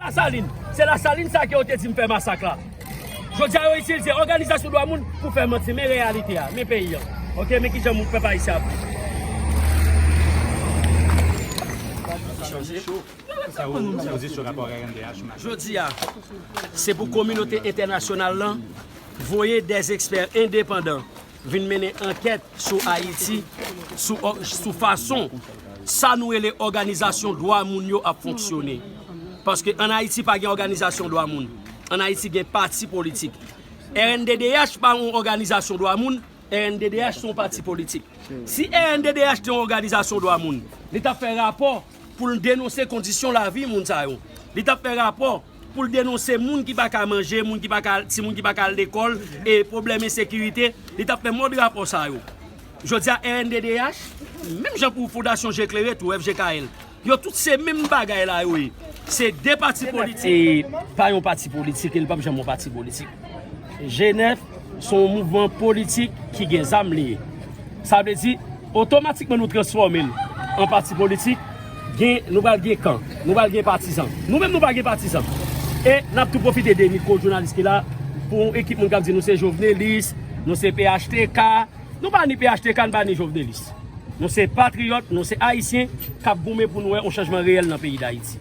La Salin. Se La Salin sa ke yo te di m fè masak la. Jodi a yo itilize òganizasyon dwa moun pou fè manti. Men reyalite a. Men peyi an. Ok, men kijan moun pèp ayisyen ap viv. Jodi a, se pou kominote entènasyonal lan voye dè ekspè endepandan vin mennen ankèt sou Ayiti sou fason sa nou rele òganizasyon dwa moun yo ap fonksyone. Paske an Ayiti pa gen òganizasyon dwa moun. An Ayiti gen pati politik. Rnddh pa yon òganizasyon dwa moun, rnddh se yon pati politik. Si rnddh te yon òganizasyon dwa moun, li t ap fè rapò pou l denonse kondisyon lavi moun sa yo. Li t ap fè rapò. pou l denonse moun ki pa ka manje, moun ki pa ka, timoun ki pa ka al lekòl, e pwoblèm ensekirite, li t ap fè mòd rapò sa yo. Jodi a rnddh, menm jan pou Fondasyon Je Klere tou, FJKL, yo tout se menm bagay la yo ye. Se 2 pati politik. E pa yon pati politik e li p ap janm yon pati politik. G9, Se yon mouvman politik ki gen zam li ye. Sa vle di, otomatikman nou transfòme l an pati politik, gen, nou pral gen kan, nou pral gen patizan. Nou menm nou pa gen patizan. E, n ap tou pwofite de mikwo jounalis ki la, pou yon ekip moun k ap di nou se jovnelis, nou se phtk, nou pa ni phtk, nou pa ni jovnelis. Nou se patriyòt, nou se Ayisyen, k ap goumen pou nou wè yon chanjman reyèl nan peyi Dayiti.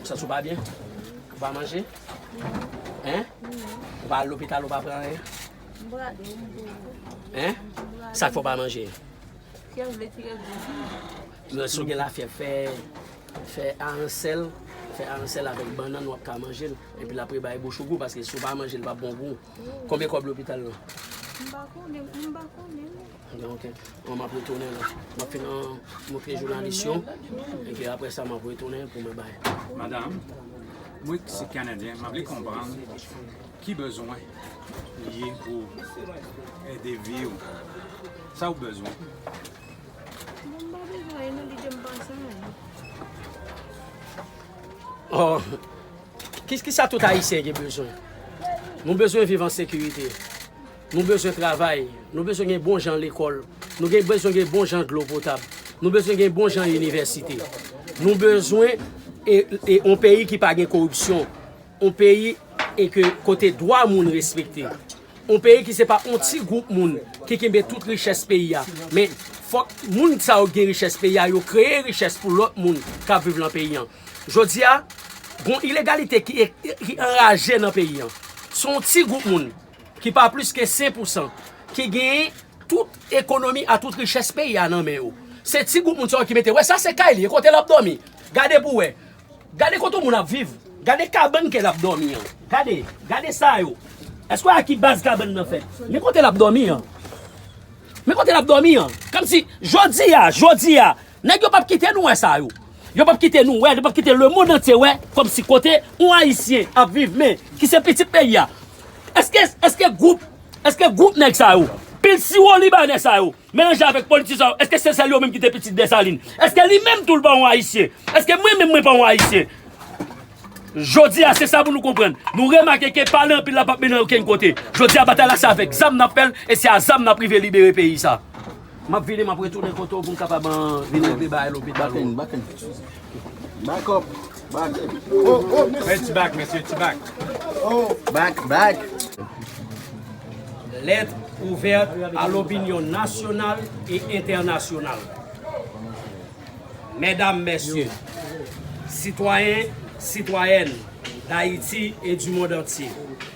Ou santi w pa byen? Ou pa manje? Hein? Ou pa al lopital ou pa pran anyen? M brade m tou. Hein? Sa k fè w pa manje? Fyèv vle tire gwo sou mwen. Lè si w gen lafyèv fè fè aransèl, fè aransèl avèk bannann wap ka manje l epi lap rebay bouch ou gou paske si w pa manje l pap bon pou w. Konbyen kòb lopital lan? M pa konnen, m pa konnen. Donk, mwen map retounen la. Map fin an montre jounalis yo. Epi apre sa map retounen pou mwen bay. Madam, mwen ki se Kanadyen, map vle konprann ki bezwen li ye pou ede vi ou. Sa ou bezwen? Mwen pa bezwen anyen non, li dim pa sa anyen. Oh, ki sa tout Ayisyen gen bezwen? Nou bezwen viv an sekirite. Nou bezwen travay, nou bezwen gen bon jan lekòl, nou gen bezwen gen bon jan dlo potab, nou bezwen gen bon jan inivèsite, nou bezwen e on peyi ki pa gen koripsyon, on peyi e ke kote dwa moun respekte, on peyi ki se pa on ti gwoup moun ki kenbe tout richès peyi a, men fòk moun sa yo gen richès peyi a yo kreye richès pou lòt moun k ap viv lan peyi an. Jodi a, gon ilegalite ki anraje nan peyi an. Se on ti gwoup moun. ki pa plis ke 5 pou san, ki genyen tout ekonomi a tout richès peyi a nan men yo. Se ti gwoup moun sa yo ki mete, wè sa se kay li, e kote l ap dòmi, gade pou wè. Gade kote yon moun ap viv, gade kabann ke l ap dòmi an. Gade, gade sa yo. Èske w wè a ki baz kabann nan fèt? Men kote l ap dòmi an. Men kote l ap dòmi an. Kòmsi, jodi a, jodi a, Nèg yo pap kite nou wè sa yo. Yo pap kite nou wè, yo pap kite lemond antye wè kòmsi kote yon Ayisyen ap viv men ki se pitit peyi a. Eske, eske gwoup, eske gwoup nèg sa yo, pil siwo libanè sa yo melanje avèk politizan sa yo, eske se sèl yo menm ki te pitit Desalin? Eske li menm tou li pa yon Ayisyen? Eske mwen menm mwen pa yon Ayisyen? Jodi a se sa pou nou konprann. Nou remake ke pale anpil la pap mennen okenn kote. Jodi a batay la se avèk zam n ap fè l e se a zam n ap rive libere peyi sa. Map vini map retounen kote w pou m kapab vini antre bagay lopital ou an. Back in, back up, back in. Oh oh mesye. Fè ti back mesye, ti back. Oh back, back. Lèt ouvèt a lopinyon nasyonal e entènasyonal. Mèdam, mèsye, sitwayen, sitwayèn dAyiti e du mond antye.